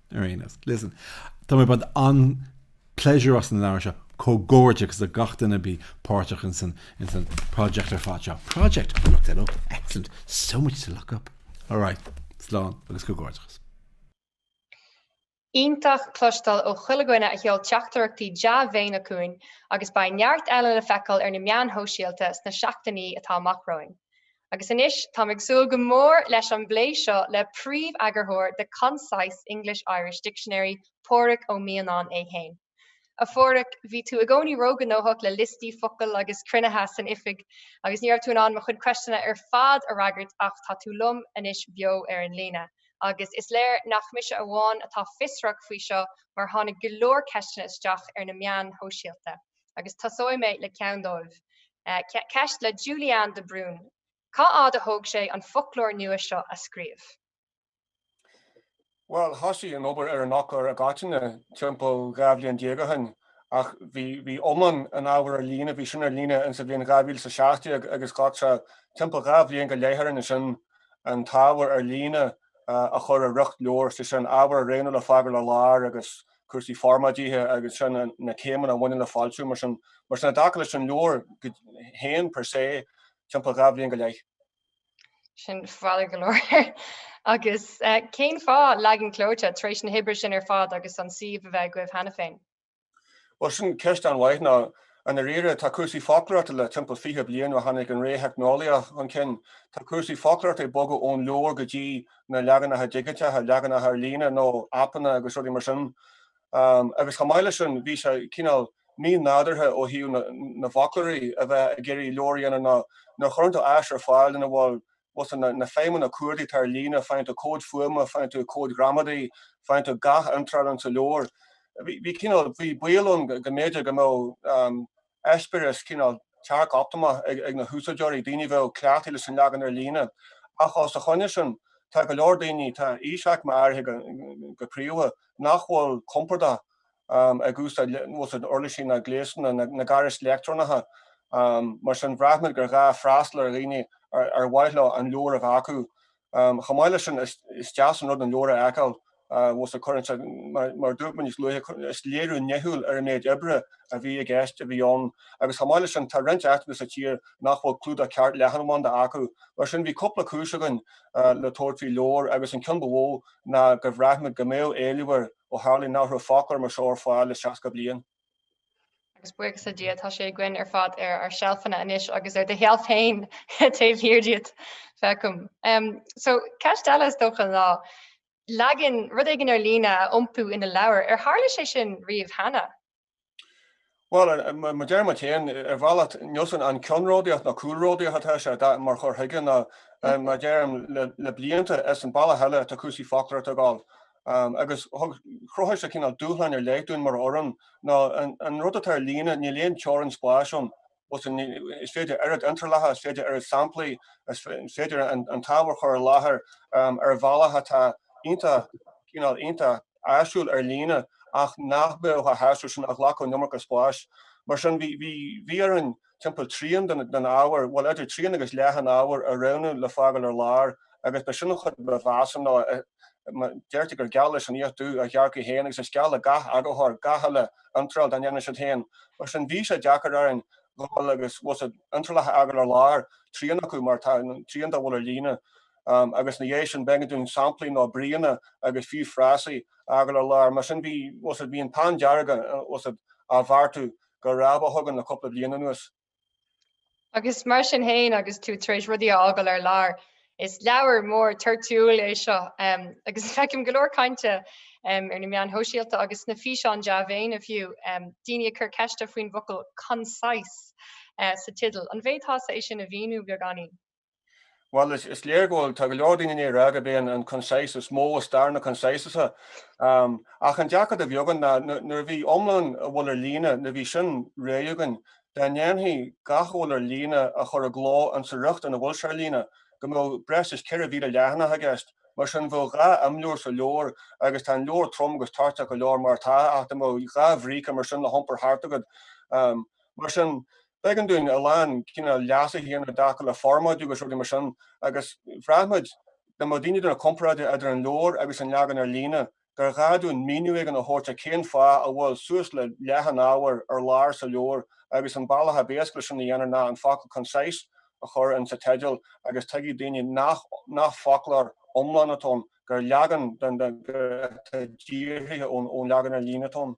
Ar aon nós, listen, tá mé ag baint an-phléisiúr as an leabhar seo, comhghairdeachas le gach duine a bhí páirteach ins an project ar fad seo. Project? I looked that up, excellent, so much to look up. All right, slán agus comhghairdeachas. Iontach cloisteáil ó chuile dhuine a sheol teachtaireachtaí dea-mhéine chugainn agus beidh neart eile le feiceáil ar na meáin shóisialta sna seachtainí atá amach romhainn. Agus anois, táim ag súil go mór leis an bplé seo le príomheagarthóir The Concise English-Irish Dictionary, Pádraig Ó Mianáin é fhéin. A Phádraig, bhí tú i gcónaí ró-ghnóthach le liostaí focal agus cruinnithe san oifig, agus ní raibh tú in ann mo chuid ceisteanna ar fad a fhreagairt, ach tá tú liom anois beo ar an líne, agus is léir nach mise amháin atá fiosrach faoi seo, mar tháinig go leor ceisteanna isteach ar na meáin shóisialta. agus tosóidh mé le ceann dóibh. Ceist le Julianne de Brún, Cá fhad a thóg sé an foclóir nua seo a scríobh? Bhuel, thosaigh an obair ar an fhoclóir i gcoitinne timpeall dhá bhliain déag ó shin ach bhí iomlán an ábhair ar líne, bhí sin ar líne insa bhliain dhá mhíle is a seacht déag agus ghlac sé timpeall dhá bhliain go leith orainn ansin an t-ábhar ar líne a chur i riocht leabhair, sé sin, ábhar a roghnú le fágáil ar lár agus a cúrsaí formáidithe agus sin na céimeanna a bhaineann le foilsiú. Mar sin, i dtaca leis an leabhar féin per se, timpeall dhá bhliain go leith. Sin fada go leor. Agus eh, cén fáth leagan clóite tar éis na hoibre sin ar fad agus an suíomh a bheith agaibh cheana féin? Bhuel sin ceist an-mhaith nó i ndáiríre tá cúrsaí foclóireachta le timpeall fiche bliain ó tháinig an ré theicneolaíoch chun cinn. Tá cúrsaí foclóireachta ag bogadh ón leabhar go dtí na leaganacha digiteacha, leaganacha ar líne nó aipeanna agus rudaí mar sin. Agus chomh maith leis sin, bhí sé cineál mínádúrtha ó thaobh na bhfoclóirí a bheith ag iarraidh leabhar a dhéanamh nó nuair a chuireann tú áis ar fáil ina bhfuil, bhfuil a fhios agat, na feidhmeanna cuardaigh atá ar líne, faigheann tú comhaid fuaime, faigheann tú comhaid ghramadaí, faigheann tú gach iontráil ann sa leabhar. Bhí, bhí cineál, bhí baol ann go mb'fhéidir go mbeadh. eispéireas cineál tearc-optamach ag na húsáideoirí, daoine a bheadh cleachtaithe leis an leagan ar líne. Ach os a choinne sin, tá go leor daoine, tá aoisaicme áirithe go príomha, nach bhfuil compordach ag úsáid uirlisí ná gléasanna ná gairis leictreonacha. Mar sin, bhraith muid gur ghá freastal ar dhaoine ar mhaith leo an leabhar a bheith acu. Chomh maith leis sin, is deas an rud an leabhar a fheiceáil, bhfuil a fhios agat, cuireann sé, mar a dúirt mé níos luaithe, is léiriú nithiúil ar an méid oibre a bhí i gceist, a bhí ann. Agus chomh maith leis sin, tá roinnt áiteacha sa tír nach bhfuil clúdach ceart leathanbhanda acu. Mar sin, bhí cúpla cúis againn le tabhairt faoi leabhar, agus an ceann ba mhó ná gur bhraith muid go mbeadh éileamh air ó tharla nach raibh foclóir mar seo ar fáil le 60 bliain. Agus buíochas le Dia, tá sé againn ar fad ar ár seilfeanna anois agus ar do sheilf féin taobh thiar díot, feicim. So, ceist eile, is dócha, ná leagan, rud éigin ar líne a iompú ina leabhar. Ar tharla sé sin riamh cheana? Bhuel, mar a deirim féin, ar bhealach níl a fhios agam an ceannródaíocht nó cúlródaíocht atá sé mar chur chuige nó mar a deirim le blianta, is an bealach eile atá cúrsaí foclóireachta ag gabháil. agus thug, chruthaigh sé cineál dúshlán ar leith dúinn mar fhoireann nó an rud atá ar líne, níl aon teorainn spáis ann, is féidir oiread iontrálacha, is féidir oiread samplaí, is féidir an t-ábhar a chur i láthair ar bhealach atá iontach, cineál iontach áisiúil ar líne ach nach mbeadh chomh háisiúil sin, a ghlacfadh an iomarca spáis. Mar sin, bhí orainn timpeall trian den ábhar, bhuel, idir trian agus leath an ábhair a roghnú le fágáil ar lár, agus ba sin an chuid ba mheasa, nó deirtear gur geal leis an fhiach dubh a ghearrcach féin, agus is geal le gach eagarthóir, gach uile iontráil dá ndéanann siad féin. Mar sin, bhí sé deacair orainn dhul agus, bhuel, iontrálacha a fhágáil ar lár, trian acu, mar, trian dá bhfuil ar líne, agus ina dhiaidh sin, b'éigean dúinn samplaí, nó bríonna, agus fiú frásaí, a fhágáil ar lár. Mar sin, bhí, bhuel, bhí an peann dearg á bheartú go rábach againn le cúpla bliain anuas. Agus mar sin fhéin agus tú tar éis rudaí a fhágáil ar lár, is leabhar mór toirtiúil é seo agus feicim go leor cainte ar na meáin shóisialta agus sna físeáin dea-mhéine fiú, daoine ag cur ceiste faoin bhfocal 'concise' sa teideal. An bhféadfása é sin a mhíniú beagáinín? Bhuel, is léir go bhfuil, tá go leor daoine ag rá gurb é an concise is mó i stair na concise-anna. Ach an dearcadh a bhí againn ná nuair a bhí iomlán a bhfuil ar líne, nuair a bhí sin réidh againn, dá ndéanfaí gach a bhfuil ar líne a chur i gcló insa riocht ina bhfuil sé ar líne, go mbeadh breis is 4,000 leathanach i gceist. Mar sin, bheadh dhá imleabhar sa leabhar, agus tá an leabhar trom agus toirteach go leor mar atá, ach dá mbeadh dhá bhríce mar sin le hiompar thart agat, mar sin, B'éigean dúinn a lán cinní glice a dhéanamh i dtaca le formáidiú agus rudaí mar sin agus bhraith muid, dá mbeadh daoine ag déanamh comparáide idir an leabhar agus an leagan ar líne, gur ghá dúinn míniú éigin a thabhairt ar cén fáth a bhfuil suas le leath an ábhair ar lár sa leabhar agus an bealach ab éasca leis sin a dhéanamh ná an focal concise a chur insa teideal agus tuigfidh daoine nach foclóir iomlán atá ann, gur leagan atá díorthaithe ón leagan ar líne atá ann.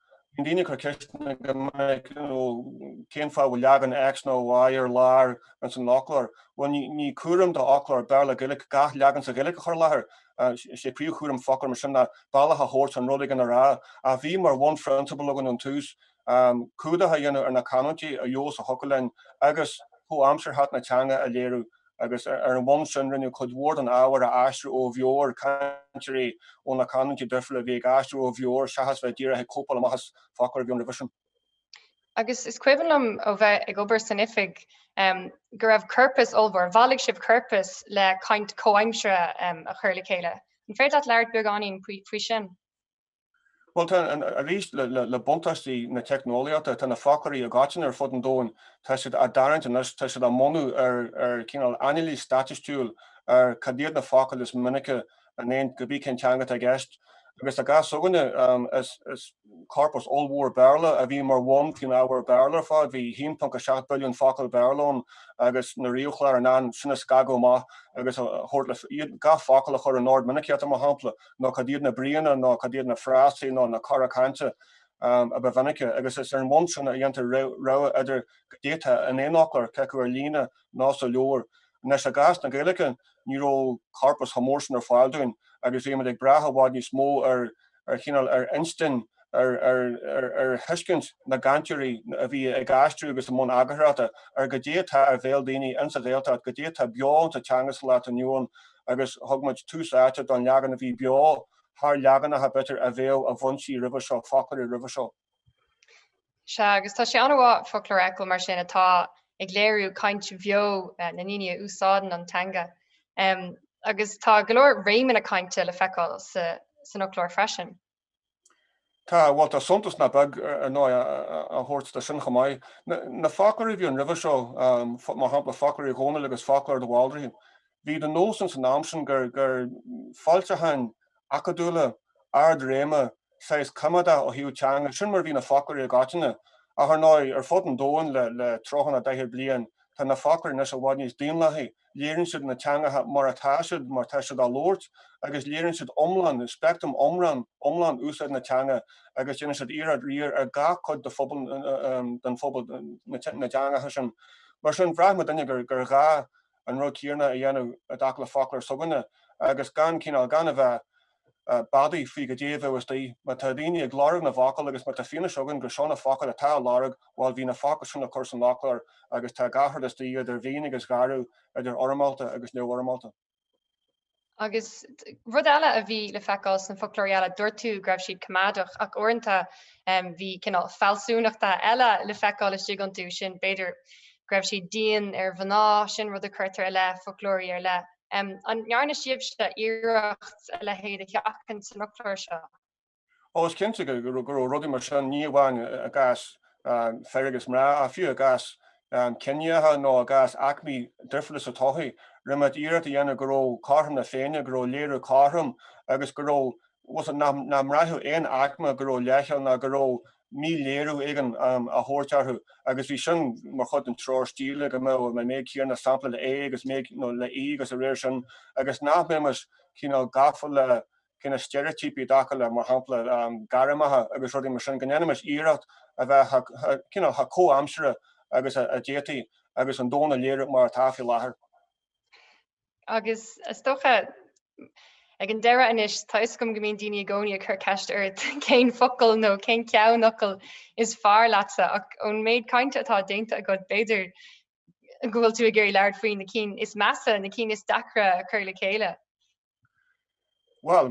Bíonn daoine ag cur ceisteanna go minic, you know, cén fáth a bhfuil leagan X nó Y ar lár ins an fhoclóir? Bhuel, ní cúram do fhoclóir Béarla Gaeilic gach leagan sa Ghaeilic a chur i láthair. Is é príomhchúram foclóir mar sin ná bealach a thabhairt don rud éigin a rá. Ach bhí mar bhunphrionsabal againn ón tús cumhdach a dhéanamh ar na canúintí a fheabhas a thiocfadh linn agus comhaimsearthacht na teanga a léiriú. agus ar an bhonn sin rinneadh cuid mhór den ábhar a aistriú ó bheo ag cainteoirí ó na canúintí duifriúla a bhí ag aistriú ó bheo seachas bheith díreach ag cóipeáil amach as foclóir a bhí ann roimhe sin. Agus is cuimhin liom ó bheith ag obair san oifig um, go raibh corpas ollmhór, bhailigh sibh corpas le caint comhaimsire um, a chur le chéile. An féidir leat labhairt beagáinín faoi sin? Bhuel, tá, arís, le buntáistí na teicneolaíochta, tá na foclóirí i ngach teanga ar fud an domhain, tá siad á dtarraingt anois, tá siad á mbunú ar chineál anailís staitistiúil ar cad iad na focail is minice in aon cibé cén teanga atá i gceist. Agus i gcás seo againne, is corpus ollmhór Béarla a bhí mar bhonn faoin ábhar Béarla ar fad, bhí 1.7 billiún focal Béarla ann agus na ríomhchláir in ann sin a scagadh amach agus a thabhairt le fios, iad, gach focal a chur in ord minicíochta, mar shampla. nó cad iad na bríonna nó cad iad na frásaí nó na cora cainte a ba mhinice, agus is ar an mbonn sin a dhéantar rogha idir cad atá in aon fhoclóir, cé acu ar líne nó sa leabhar. Anois, i gcás na Gaeilge, ní raibh corpas chomh mór sin ar fáil dúinn, agus bhímid ag brath i bhfad níos mó ar chineál, ar instinn, ar thuiscint na gcainteoirí a bhí ag aistriú agus i mbun eagarthóireachta ar goidé atá ar bhéal daoine ins an Ghaeltacht, goidé atá beo ins an teanga sa lá atá inniu ann agus thug muid tús áite don leagan a bhí beo thar leaganacha b'fhéidir a bheadh i bhfoinsí roimhe seo, foclóirí roimhe seo. Sea, agus tá sé an-mhaith, foclóir againn mar sin, atá ag léiriú caint bheo na ndaoine a úsáideann an teanga. Agus tá go leor réimeanna cainte le feiceáil san fhoclóir freisin. Tá, bhuel tá suntas nach beag, ar ndóigh, á thabhairt do sin chomh maith. Na foclóirí a bhí ann roimhe seo, mar shampla foclóir Uí Dhónaill agus foclóir de Bhaldraithe, bhí de nós ins an am sin gur foilseacháin acadúla, ard-réime, saghas coimeádach ó thaobh teanga, sin mar a bhí na foclóirí i gcoitinne. Ach ar ndóigh, ar fud an domhain le tríocha nó daichead bliain, tá na foclóirí anois i bhfad níos daonlathaí. léiríonn siad na teangacha mar atá siad, mar tá siad á labhairt, agus léiríonn siad iomlán, speictream iomlán úsáid na teanga agus déanann siad iarracht riar ar gach cuid de phobal, den phobal, na dteangacha sin. Mar sin, bhraith muidinne gur ghá an rud céanna a dhéanamh i dtaca le foclóir s'againne agus gan cineál, gan a bheith, beadaí faoi goidé a bheas istigh. Má tá daoine ag lorg na bhfocal agus má tá fianaise againn gur seo na focail atá á lorg, bhuel, bhí na focail sin le cur san fhoclóir agus tá gach rud istigh, idir mhín agus gharbh, idir fhoirmeálta agus neamhfhoirmeálta. Agus rud eile a bhí le feiceáil sna foclóirí eile, dúirt tú go raibh siad coimeádach ach uaireanta bhí cineál fealsúnachta eile le feiceáil istigh iontu, sin, b'fhéidir, go raibh siad dian ar mhná, sin rud a chuirtear i leith foclóirí ar leith. An ndearna sibhse iarracht a leithéid a sheachaint san fhoclóir seo? Ó, is cinnte go raibh rudaí mar sin, ní amháin i gcás Fergus mná, ach fiú i gcás ciníocha nó i gcás aicmí difriúla sa tsochaí. Rinne muid iarracht a dhéanamh go raibh cothrom na Féinne, go raibh léiriú cothrom agus go raibh, bhuel, nach mbraithfeadh aon aicme go raibh leithcheal ná go raibh míléiriú éigin á thabhairt orthu agus bhí sin mar chuid den treoir stíle go mbeadh an méid céanna sampla le é agus méid, nó le í agus a réir sin agus nach mbeimis cineál gafa le cineál steiréitíopaí i dtaca le, mar shampla, gairmeacha agus rudaí mar sin, go ndéanfaimis iarracht a bheith cineál chomh comhaimseartha agus a d'fhéadfaí agus an domhan a léiriú mar atá faoi láthair. Agus is dócha, ag an deireadh anois, tá fhios agam go mbíonn daoine i gcónaí ag cur ceist ort cén focal nó cén ceannfhocal is fearr leatsa, ach ón méid cainte atá déanta agat, b'fhéidir go bhfuil tú ag iarraidh labhairt faoi na cinn is measa, na cinn is deacra a chur le chéile. Bhuel,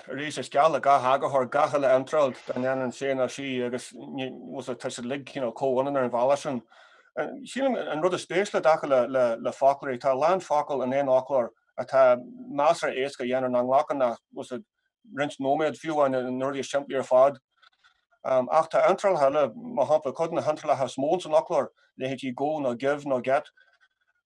arís, is geal le gach eagarthóir gach uile iontráil dá ndéanann sé nó sí agus tá siad uilig comhionann ar an bhealach sin. Sílim an rud is spéisiúla i dtaca le foclóirí, tá a lán focal in aon fhoclóir atá measartha éasca a dhéanamh, nach nglacann ach roinnt nóiméad fiú amháin, na rudaí is simplí ar fad. Ach tá iontrálacha eile, mar shampla, cuid de na hiontrálacha is mó ins an fhoclóir, leithéidí 'go' nó 'give' nó 'get',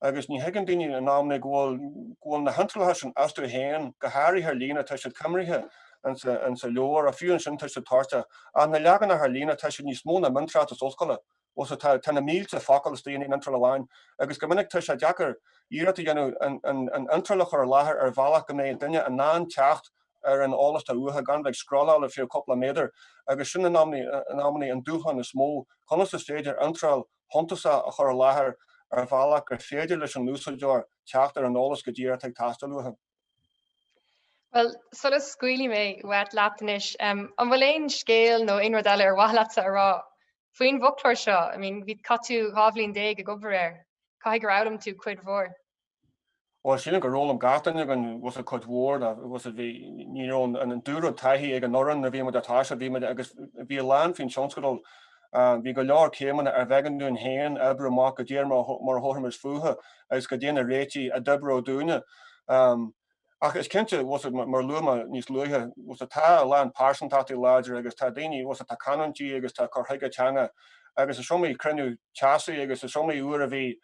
agus ní thuigeann daoine in amanna go bhfuil go bhfuil na hiontrálacha sin astu féin, go háirithe ar líne, tá siad coimrithe insa leabhar, ach fiú ansin tá siad toirteach. Ach na leaganacha ar líne, tá siad níos mó ná miontráchtas ollscoile, bhfuil a fhios agat, tá na mílte focal istigh in aon iontráil amháin, agus go minic tá sé deacair iarracht a dhéanamh an iontráil a chur i láthair ar bhealach go mbeidh duine in ann teacht ar an eolas atá uathu gan bheith ag scrolláil ar feadh cúpla méadar, agus sin in amanna an dúshlán is mó, conas is féidir iontráil shuntasach a chur i láthair ar bhealach gur féidir leis an úsáideoir teacht ar an eolas go díreach atá ag teastáil uathu. Bhuel, sula scaoilfidh mé uait leat anois, an bhfuil aon scéal nó aon rud eile ar mhaith leatsa a rá faoin bhfoclóir seo? I mean, bhí, chaith tú dhá bhliain déag ag obair air, caithfidh gur fhoghlaim tú cuid mhór. Ó sílim gur fhoghlaim gach duine againn, bhfuil a fhios agat, cuid mhór bhfuil a fhios agat, bhí, ní raibh an an dúrud taithí ag an fhoireann nuair a bhí muid ag toiseacht, bhí muid agus bhí a lán faoin tionscadal. Bhí go leor céimeanna arbh éigean dúinn féin a oibriú amach go díreach mar a thabharfaimis fúthu agus cad é na réitigh a d'oibreodh dúinne. Ach is cinnte, bhfuil a fhios agat, mar a luaigh mé níos luaithe, bhfuil a fhios agat, tá a lán pearsantachtaí láidir agus tá daoine, bhfuil a fhios agat, atá canúintí agus tá cur chuige teanga agus is iomaí cruinniú teasaí agus is iomaí uair a bhí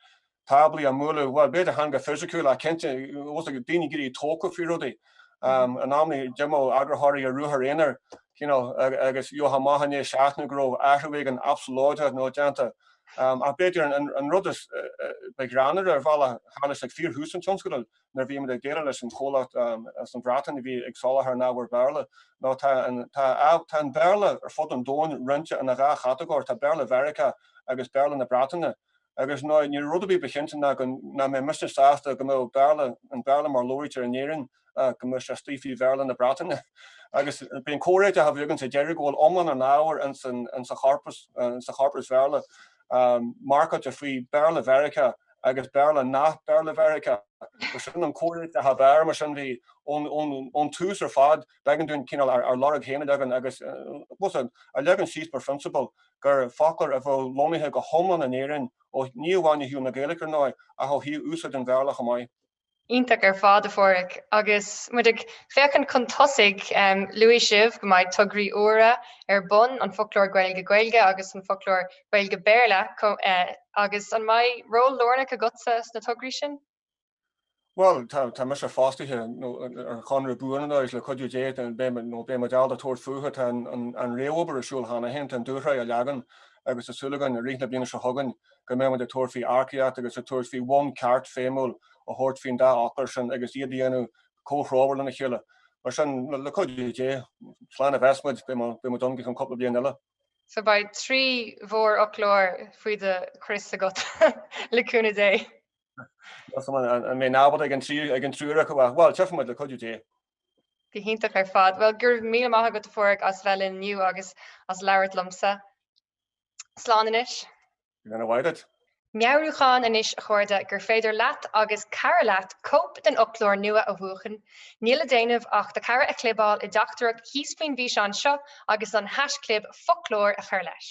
táblaí á mbualadh, bhuel, b'fhéidir chan go fisiciúil ach cinnte thosaigh daoine ag éirí tógtha faoi rudaí. In amannaí d'imeodh eagarthóirí ar ruathair aonair you know, agus gheobhainn amach i ndiaidh seachtaine go raibh athrú éigin absalóideach nua déanta. Ach b'fhéidir an rud is ba ghreannmhaire ar bhealach, tharla sé ag fíorthús an tionscadail nuair a bhíomar ag déileáil leis an chomhlacht as an Bhreatain a bhí ag soláthar an ábhair Bhéarla, ná tá an Béarla ar fud an domhain roinnte ina dhá chatagóir, tá Béarla Mheiriceá agus Béarla na Breataine. agus ná ní raibh rud ar bith ba chinnte ná go nach mbeadh mise sásta go mbeadh Béarla, an Béarla mar a labhraítear in Éirinn, go mbeadh sé istigh faoi Bhéarla na Breataine. Agus ba é an comhréiteach a bhí againn sa deireadh go bhfuil iomlán an ábhair insa chorpas, insa chorpas Bhéarla, marcáilte faoi Béarla Mheiriceá agus Béarla nach Béarla Mheiriceá. Bhuel sin an comhréiteach ab fhearr mar sin bhí ón, ón, ón tús ar fad. b'éigean dúinn cineál ár lorg féin a leagan agus bhfuil a fhios agat, a leagan síos mar phrionsabal gur foclóir a bheadh lonnaithe go hiomlán in Éirinn, ó, ní amháin ó thaobh na Gaeilge, ar ndóigh, ach ó thaobh úsáid an Bhéarla chomh maith. Iontach ar fad, a Phádraig. Agus muid ag féachaint chun tosaigh, luaigh sibh go mbeidh tograí úra ar bun, an Foclóir Gaeilge-Gaeilge agus an Foclóir Gaeilge-Béarla, agus an mbeidh ról lárnach agatsa sna tograí sin? Bhuel, tá mise fostaithe ar chonradh buan anois le cuidiú Dé beidh muid abálta tabhairt fúthu. Tá an réamhobair ar siúl cheana féin, tá an dúshraith á leagan agus tá súil againn, i rith na bliana seo chugainn, go mbeidh muid ag tabhairt faoi earcaíocht agus ag tabhairt faoi bonn ceart feidhmiúil a thabhairt faoin dá ábhar sin agus iad a dhéanamh comhthreomhar lena chéile. Mar sin, le cuidiú Dé, slán a bheas muid, beidh muid ann go ceann cúpla bliain eile. So beidh trí mhórfhoclóir faoi do chrios agat, le cúnamh Dé. Má bhím ábalta ag an triúr acu bhuel, tchífidh muid le cuidiú Dé. Go hiontach ar fad. Bhuel, go raibh míle maith agat a Phádraig as bheith linn inniu agus as labhairt liomsa. Slán anois. Go ndéana a mhaith duit. Meabhrúchán anois a chairde gur féidir leat agus cara leat cóip den fhoclóir nua a bhuachan. Níl le déanamh ach do chara a chlibeáil i dteachtaireacht thíos faoin bhfíseán seo agus an haisclib foclóir a chur leis.